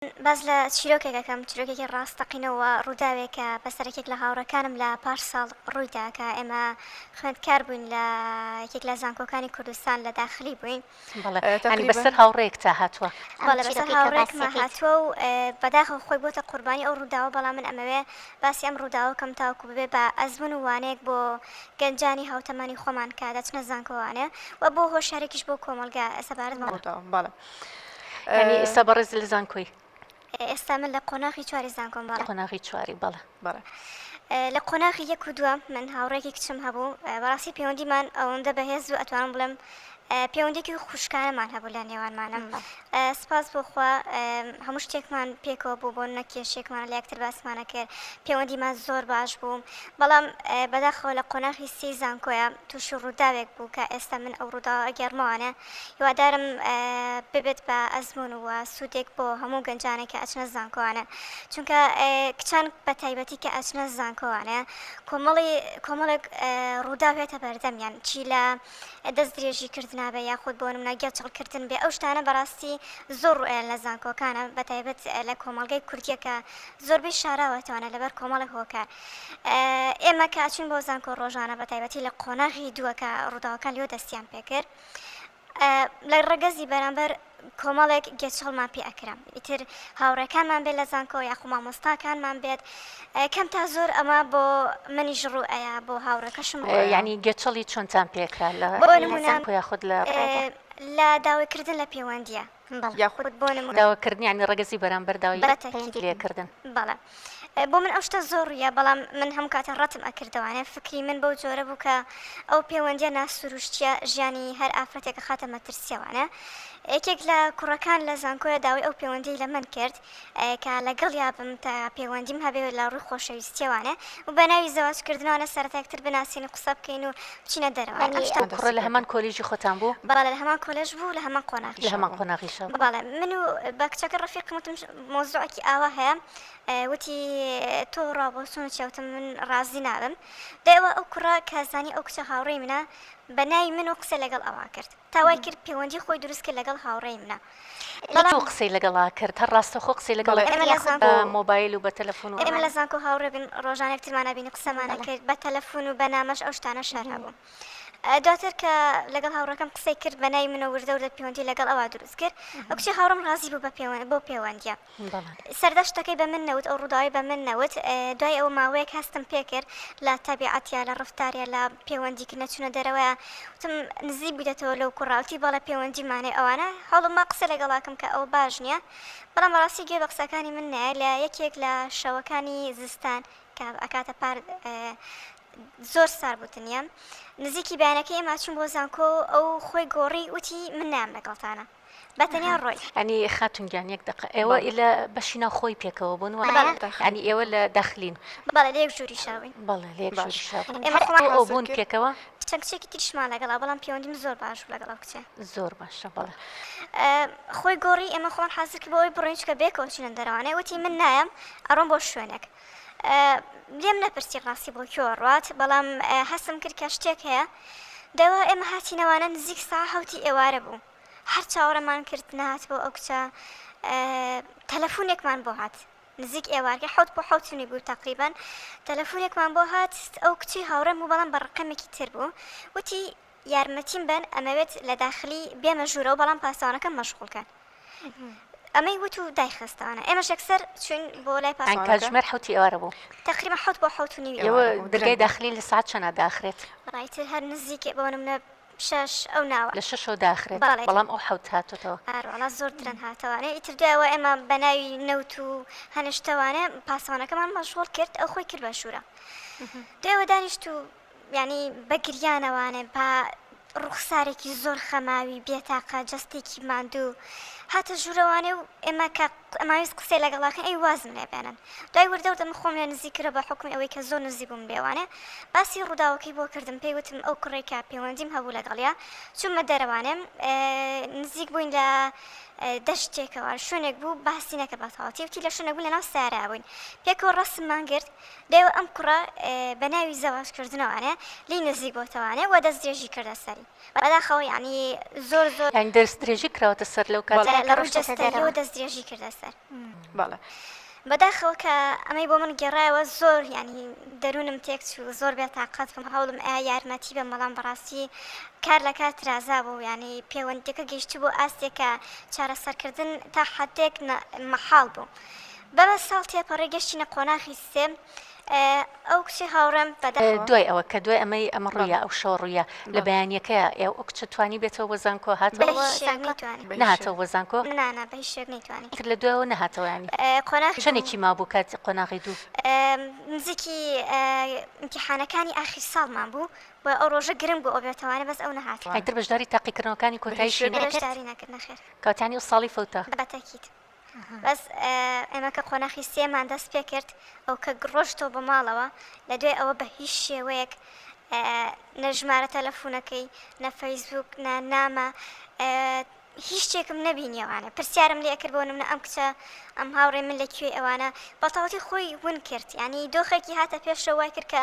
باس لە چیرۆکێک ئەکەم، چیرۆکێکی ڕاستەقینە و ڕووداوێک کە بەسەر یەکێک لە هاوڕێکانم لە پار ساڵ ڕووی دا کە ئێمە خوێندکار بووین لە یەکێک لە زانکۆکانی کوردستان لە داخلی بووین. بەڵێ، یانی تەقریبەن- بەسەر هاوڕێیەکتا هاتووە. ئەم بەڵێ، بەسەر چیرۆکەی تۆ هاوڕێیەکما باسی یەکەیت. هاتووە و بەداخەوە خۆی بۆتە قوربانی ئەو ڕووداوە، بەڵام من ئەمەوێ باسی ئەم ڕووداوە بکەم تاوەکو ببێ بە ئەزموون و وانەیەک بۆ گەنجانی هاوتەمەنی خۆمان کە دەچنە زانکۆوانێ و بۆ هۆشیارێکیش بۆ کۆمەڵگە سەبارەت بەم ڕووداوە. بەڵێ. یانی ئێستا بەڕێز لە زانکۆی ئێستا من لە قۆناغی چواری زانکۆم بەڵێ قۆناغی چواری بەڵێ بەڵێ لە قۆناغی یەک و دووە من هاوڕێکی کچم هەبوو بەڕاستی پەیوەندیمان ئەوەندە بەهێز و ئەتوانم بڵێم پەیوەندێکی خوشکانەمان هەبوو لە نێوانمانم سپاس بۆخوا هەموو شتێکمان پێکەوە بوو بۆ نەکێشێکمان لە یەکتر باسمانە کرد پەیوەندیمان زۆر باش بوو بەڵام بەداخەوە لە قۆناغی سی زانکۆیە تووشی ڕووداوێک بوو کە ئێستا من ئەو ڕوودا ئەگەرمەوانە هیوادارم ببێت بە ئەزموون و سوودێک بۆ هەموو گەنجانێک کە ئەچنە زانکۆوانە چونکە کچان بە تایبەتی کە ئەچنە زانکۆوانە کۆمەڵی کۆمەڵێک ڕووداو هێتە بەردەمیان چی لە دەست درێژی کردنا بە یاخود بۆ نمونە گێچەڵکردن بێ ئەو شتانە بەڕاستی زۆر ڕوئێن لە زانکۆکانە بە تایبەت لە کۆمەڵگەی کوردیەکە زۆربەی شاراوەتەوانە لەبەر کۆمەڵی هۆکار ئێمە کە ئەچوین بۆ زانکۆ ڕۆژانە بە تایبەتی لە قۆناغی دووە کە ڕووداوەکان لێو دەستیان پێکرد لە ڕگەزی بەرامبەر کۆمەڵێک گێچەڵمان پێ ئەکرم ئیتر هاوڕێکانمان بێت لە زانکۆ یاخو مامۆستاکانمان بێت کەم تا زۆر ئەمە بۆ منیش ڕوو ئەیە بۆ هاوڕێکەشم ینی گێچەڵی چۆنتان پێکرا لە یاخود لە لە داوایکردن لە پەیوەندیە یاخود بۆ نموونە داواکردن یانی ڕەگەزی بەرامبەر داوای پەیوەندی لێکردن. بەڵێ بۆ من ئەو شتە زۆر ڕوویە بەڵام من هەموو کاتە ڕەتم ئەکردەوانێ فکری من بەو جۆرە بوو کە ئەو پێوەندیە ناسروشتیە ژیانی هەر ئافرەتێک ئەخاتە مەترسیەوانێ یەکێک لە کوڕەکان لە زانکۆیە داوای ئەو پێوەندیەی لە من کرد کە لەگەڵیا بم تا پێوەندیم هەبێ و لە ڕووی خۆشەویستییەوانە و بە ناوی زەواج کردنەوانە سەرەتا یەکتر بناسین و قسە بکەین و بچینە دەرەوە. یانی ئەم شتانە دەستی پێ کرد. کوڕە لە هەمان کۆلیژی خۆتان بوو؟ بەڵێ لە هەمان کۆلێژ بوو و لە هەمان قۆناغیشا لە هەمان بوو. قۆناغیشا بوو. بەڵێ من و بە کچەکە ڕەفیقم وتم مەوزوعێکی ئاوا هەیە وتی تۆ ڕابۆچوون چیە وتم من ڕازی نابم دوای ئەوە ئەو کوڕە کە زانی ئەو کچە هاوڕێی منە بە ناوی من و قسەی لەگەڵ ئەوا کرد تا وای کرد پێوەندی خۆی دروست کرد لەگەڵ هاوڕێی منە بەڵام ئەو قسەی لەگەڵا کرد هەر ڕاستەوخۆ قسەی لەگەڵ کرد یاخود بە مۆبایل و بە تەلەفون و ئەوان؟ ئێمە لە زانکۆ هاوڕێ بووین ڕۆژانە یەکترمان ئەبین و قسەمان ئەکرد بە تەلەفون و بە نامەش ئەو شتانە شەر هەبوو دواتر کە لەگەڵ هاوڕێکەم قسەی کرد بە ناوی من و وردە وردە پێوەندی لەگەڵ ئەوا دروست کرد ئەو کچەی هاوڕێم ڕازی بوو بە پێوەند بەو پێوەندییە سەردەشتەکەی بە من نەوت ئەو ڕووداوی بە من نەوت دوای ئەوە ماوەیەک هەستم پێکرد لە تەبیعەتە لە ڕفتارە لە پەیوەندیکە نەچونە دەرەوەە وتم نزیک بوویتەوە لەو کوڕاوتی بەڵە پەیوەندیمانێ ئەوانە هەڵمە قسە لەگەڵاکم کە ئەو باش نییە بەڵام ڕاستی گوێ بە قسەکانی من نایە لە یەکێک لە شەوەکانی زستان کە ئەکاتە پار زۆر سار بوتنیە نزیکی بەیانەکەی ئێمە چون بۆ زانکۆ ئەو خۆی گۆڕی وتی من نام لەگەڵتانە بە تەنیا ڕۆی. یانی خاتون گیان یەک دەقە ئێوە لە بەشی ناو خۆی پێکەوە بوون وایە یانی ئێوە لە داخلین بەڵێ لە یەک ژووری شاوین بەڵێ لە یەک ژووری شاوین ئێمە خۆمان ئەو بوون حاسب کرد. پێکەوە چەند کچێکی تریشمان لەگەڵا بەڵام پێوەندیم زۆر باش بوو لەگەڵ ئەو کچە زۆر باشە بەڵێ خۆی گۆڕی ئێمە خۆمان حازر کرد بۆ ئەوەی بڕۆین چونکە بەیەکەوە چوونە دەرەوانێ وتی من نایەم ئەڕۆم بۆ شوێنێک لێم نەپرسی ڕاستی بۆ کوێوە ڕوات، بەڵام هەستم کرد کە شتێک هەیە. دەوا ئێمە هاتینەوانە نزیک ساعە حەوتی ئێوارە بوو. هەر چاوەڕێمان کرد نەهاتەوە ئەو کچە، تەلەفونێکمان بۆ هات. نزیک ئێوارکە حەوت بۆ حەوت و نیو بوو تەقریبەن، تەلەفونێکمان بۆ هات، ئەو کچەی هاوڕێم بوو بەڵام بە ڕەقەمێکی تر بوو، وتی، یارمەتیم بەن ئەمەوێت لە داخلی بێمە ژوورەوە بەڵام پاسەوانەکەم مەشغوڵ کەن ئەمەی وت و دایخستانە ئێمەش یەکسەر چوین بۆ لای پاس کاتژمێر حوتی ئێوارە بوو تقریمە حوت بۆ حوت و نیوە درگای داخلی لە ساعت چەنە داخرێت ڕایتر هەر نزیکێ بۆ منە شش ئەو ناوە لە شەشەوە داخرێت بەڵام ئەو حوت هاتوتەوە ئاروڵا زۆر درەن هاتەوانێ ئیتر دوایەوە ئێمە بە ناوی نەوت و هەنشتەوانێ پاسەوانەکەمان مەشغول کرد ئەو خۆی کرد بە شوورە دێوە دانیشت و یانی بە گریانەوانێ با ڕوخسارێکی زۆر خەماوی بێتاقە جەستێکی ماندوو هاتە ژوورەوانێ و ئێمە کە ئەماویست قسەی لەگەڵاکەن ئەی وازم لێ بێنن دوای وردەوردە من خۆم لێ نزیک کرە بە حکومی ئەوەی کە زۆر نزیک بووم لێوانێ باسی ڕووداوەکەی بۆ کردم پێی وتم ئەو کوڕێک کە پەیوەندیم هەبوو لەگەڵیا چوومە دەرەوانێم نزیک بووین لە دەشتێکەوە شوێنێک بوو باسی نەکە بە تەواتی وتی لە شوێنێک بوو لەناو سارا بووین پێکەوە ڕسممان گرت دەیەوە ئەم کوڕە بە ناوی زەواج کردنەوانە لی نزیک بۆتەوانە وە دەست درێژی کردە سەری بەداخەوە یعنی زۆر زۆر یعنی دەست درێژی کراوەتە سەر لەو کاتە بەڵێ لە ڕووی جەستەییەوە دەست درێژی کردە سەر بەڵێ بەداخەوە کە ئەمەی بۆ من گێڕایەوە زۆر یعنی دەروونم تێک چوو زۆر بێ تاقەت بووم هەوڵم ئەیا یارمەتی بەم بەڵام بەڕاستی کار لە کار ترازا بوو یعنی پێوەندیەکە گەیشتبوو ئاستێک کە چارەسەرکردن تا حەدێک مەحاڵ بوو. بەمە ساڵ تێپەڕی گەشتینە قۆناخی سێم ئەو کچی هاوڕێم بەدا دوای ئەوە کە دوای ئەمەی ئەمە ڕوویە ئەو شەوە ڕوویە لە بەیانیەکە ئێو ئەو کچە توانی بێتەوە بۆ زانکۆ هات نهاتەوە بۆ زانکۆ تر لە دوایەوە نەهاتەوەیانی قۆناخ شەنێکی ما بوو کات قۆناغی دوو نزیکی امتحانەکانی ئاخیر ساڵمان بوو و ئەو ڕۆژە گرنگ بۆ ئۆبێتەوانە بەس ئەو نەهات ئەتر بەشداری تاقیکردنەوەکانی کۆتایشی نەکرد کاتانی و ساڵی فوتە بەتەکیت بەس ئێمە کە قۆناخی سێمان دەست پێکرد ئەو کە گڕۆشتەوە بە ماڵەوە لە دوای ئەوە بە هیچ شێوەیەک نەژمارە تەلەفونەکەی نەفەیسبوک نە نامە هیچ شتێکم نەبینیەوانە پرسیارم لێ کرد بۆ منە ئەم کچە ئەم هاوڕێ من لە کوێ ئەوانە بەتەواتی خۆی ون کرد ینی دۆخێکی هاتە پێشەوەی کرد کە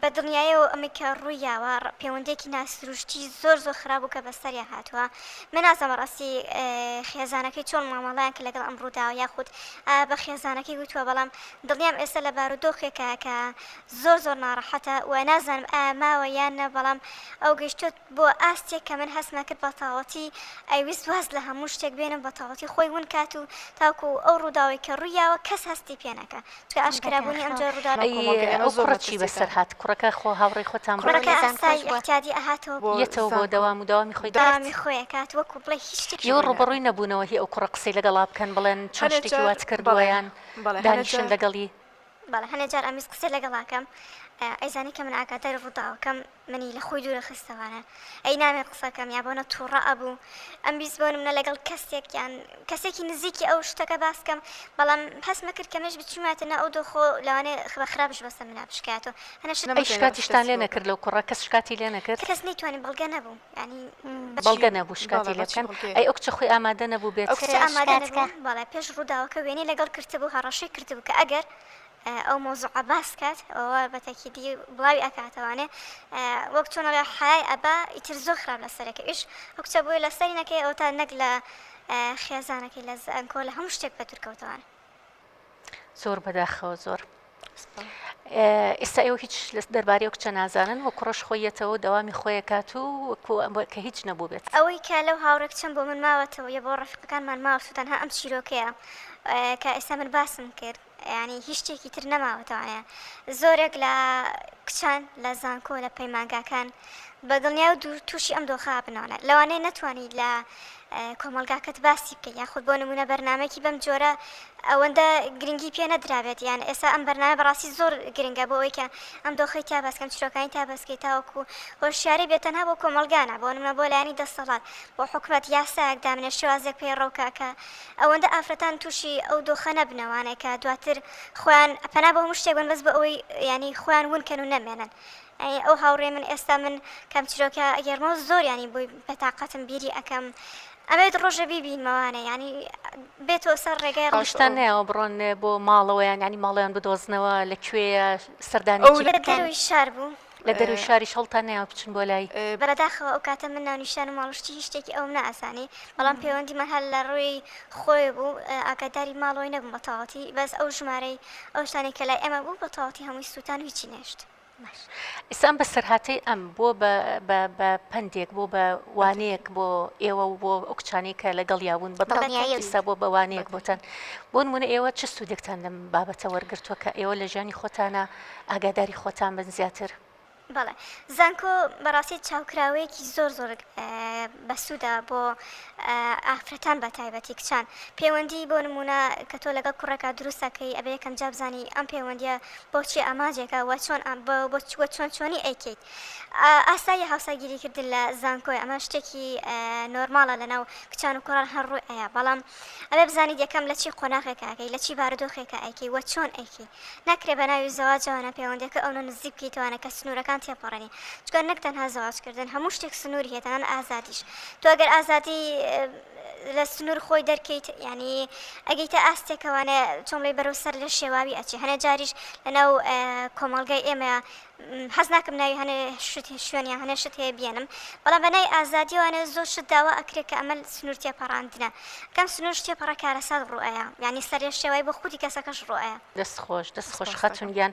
بە دڵنیایەوە ئەمەی کە ڕووی یاوە پێوەندیەکی ناسروشتی زۆر زۆر خراپ بوو کە بەسەریان هاتووە من نازانم ڕاستی خێزانەکەی چۆن مامەڵەیان کە لەگەڵ ئەم ڕووداوە یاخود بە خێزانەکەی وتووە بەڵام دڵنیام ئێستا لە بارودۆخێکە کە زۆر زۆر ناڕەحەتە و نازانم ئایا ماوە یان نە بەڵام ئەو گەشتوت بۆ ئاستێک کە من هەستمە کرد بە تاوەتی ئەیوست واز لە هەموو شتێک بێنە و بە تاوەتی خۆی ون کات و تاکو ئەو ڕووداوەی کە ڕووی یاوە کەس هەستی پێ نەکا چکە ئاشکرا بوونی ئەم جۆرە ڕووداوە ئەی ئەو کوڕە چی بەسەر هات کوڕەکە خۆ هاوڕێی خۆتان بوو کوڕەکە ئاسای ئیعتیادی ئەهاتەوە یەتەوە بۆ دەوام و دەوامی خۆی دەکرد دەوامی خۆی ئەکات وەکو بڵێ هیچ شتێکی ئێوە ڕووبەڕووی نەبوونەوە هی ئەو کوڕە قسەی لەگەڵا بکەن بڵێن چۆن شتێکی وات کردووە یان دانیشن لەگەڵی؟ بەڵێ هەنێ جار ئەمویست قسەی لەگەڵ ئاکەم ئەیزانی کە من ئاگاداری ڕووداوەکەم منی لە خۆی دوورە خستەوانە ئەی نامێ قسەکەم یا بۆنە تووڕە ئەبوو ئەمویست بۆ منە لەگەڵ کەسێک یان کەسێکی نزیکی ئەو شتەکە باسکەم بەڵام هەستمە کرد کەمێش بچواتە نە ئەو دۆخۆ لەوانێ خبە خراپش بەسە منە بشکاتەوە هەنە شکاتیشتان لێ نەکرد لەو کوڕە کەس شکاتی لێ نەکرد کەس نەیتوانی بەڵگە نەبوو بەڵگە نەبوو شکاتی لێ بکەن، ئەی ئەو کچە خۆی ئامادە نەبوو بێت؟ ئەو کچە ئامادە نەبوو، بەڵێ پێش ڕووداوەکە وێنەی لەگەڵ کرتبوو، هەڕەشەی کردبوو کە ئەگەر ئەو مەوزوعە باس بکات ئەوە بە تەکیدی بڵاوی ئەکاتەوانێ وەک چۆن ئەڵێ حەیای ئەبا ئیتر زۆر خراپ لەسەر ئەکەوێ، ئیش ئەو کچە بۆیە لەسەری نەکەوێ ئەوەتا نەک لە خێزانەکەی لە زانکۆ لە هەموو شتێک بەدوور کەوتەوانێ. زۆر بەداخەوە زۆر ئێستا ئێوە هیچ لە دەربارەی کچە نازانن و کوڕش خۆیەتەوە داوامی خۆیەکات و کە هیچ نەبوو بێت ئەوەی کە لەو هاوڕێک چەند بۆ من ماوەتەوە یە بۆ ڕفقەکانمان ماوەسو تەنها ئەم چیرۆکەیە کە ئێستا من باسم کرد ینی هیچ شتێکی تر نەماوەتەوانە زۆرێک لە کچان لە زانکۆ لە پەیمانگاکان بە دڵنیا و تووشی ئەم دۆخە بنەوەە لەوانەیە نەتوانانی لە کۆمەڵگاکەت باسی بکەی یاخود بۆ نمونە بەرنامەیەکی بەم جۆرە ئەوەندە گرنگی پێ نەدرابێت یان ئێسا ئەم بەرنامە بەڕاستی زۆر گرنگە بۆ ئەوەی کە ئەم دۆخی تا باسکەم چیرۆکانی تا بەسکەی تاوەکو هۆشیاری بێت تەنها بۆ کۆمەڵگانە بۆ نمونە بۆ لایەنی دەسەڵات بۆ حکومەت یاسایەک دامنێ شێوازێک پەیڕەوکە کە ئەوەندە ئافرەتان تووشی ئەو دۆخە نەبنەوانێکە دواتر خۆیان پەنا بۆ هەموو شتێک بن بەس بۆ ئەوەی یانی خۆیان ون کەن و نەمێنن ئەی ئەو هاوڕێ من ئێستا من کام چیرۆکە ئەگێرمەوە زۆر یانی بۆی بەتاقەتم بیری ئەکەم ئەمەوێت ڕۆژێ بیبینمەوانە یانی بێتەوە سەر ڕێگای ڕۆژ شتان نایەوە بڕۆن بۆ ماڵەوەیان ینی ماڵیان بدۆزنەوە لە کوێیە سەردانی دەروی شار بوو لە دەروی شاری شەڵتان نایەوە بچن بۆ لای بەداخەوە ئەو کاتە من ناونیشان و ماڵشتی هیچ شتێکی ئەوم ناسانی بەڵام پەیوەندیمان هەر لە ڕووی خۆی بوو ئاگاداری ماڵەوەی نەبووم بەتەواتی بەس ئەو ژمارەی ئەو شتانی کە لای ئێمە بوو بەتەواتی هەمووی سووتان هیچی نەشت ئیستا ئەم بەسەرهاتەی ئەم بۆ بە پەندێک بۆ بە وانەیەک بۆ ئێوە و بۆ ئەو کچانەی کە لەگەڵیا بوون بەدڵنیایستا بۆ بەوانەیەک بۆتان بۆ نمونە ئێوە چ سوودێکتان لەم بابەتە وەرگتووە کە ئێوە لە ژیانی خۆتانە ئاگاداری خۆتان بن زیاتر بەڵێ زانکۆ بەڕاستی چاوکراوەیەکی زۆر زۆر بەسوودە بۆ ئافرەتان بەتایبەتی کچان پێوەندی بۆ نموونە کە تۆ لەگەڵ کوڕێکا دروست ئەکەی ئەبێ یەکەم جا بزانی ئەم پێوەندیە بۆچی ئاماجێکە وە چۆن وە چۆن چۆنی ئەیکەیت ئاساییە هاوسەرگیری کردن لە زانکۆی ئەمە شتێکی نۆرماڵە لەناو کچان و کوڕان هەر ڕووی ئەیا بەڵام ئەبێ بزانیت یەکەم لە چی قۆناغێکە ئەکەی لە چی بارودۆخێکە ئەیکەی وە چۆن ئەیکەی ناکرێ بە ناوی زەواجەوە نە پێوەندیەکە ئەونە نزیک بکەیتەوە نە کە سنورەکان تێپەڕێنی چونکە نەک تەنها زەواج کردن هەموو شتێک سنوری هەیە تەنان ئازادیش تۆ ئەگەر ئازادی لە سنور خۆی دەرکەیت ینی ئەگەیتە ئاستێکەوانە چۆملەی بەرەو سەر لە شێواوی ئەچێ هەنە جاریش لەناو کۆمەڵگای ئێمە حەز ناکەم ناوی هەنێ شت شوێن یان هەنێ شت هەیە بیێنم بەڵام بە نای ئازادیەوە نێ زۆر شت داوا ئەکرێت کە ئەمە سنوور تێپەڕاندنە کەم سنوور شتێ پەڕە کارەسات ڕوئەیە یعنی سەرێ شێوای بۆ خودی کەسەکەش ڕوئەیە دەست خۆش دەست خۆش خەتون گیان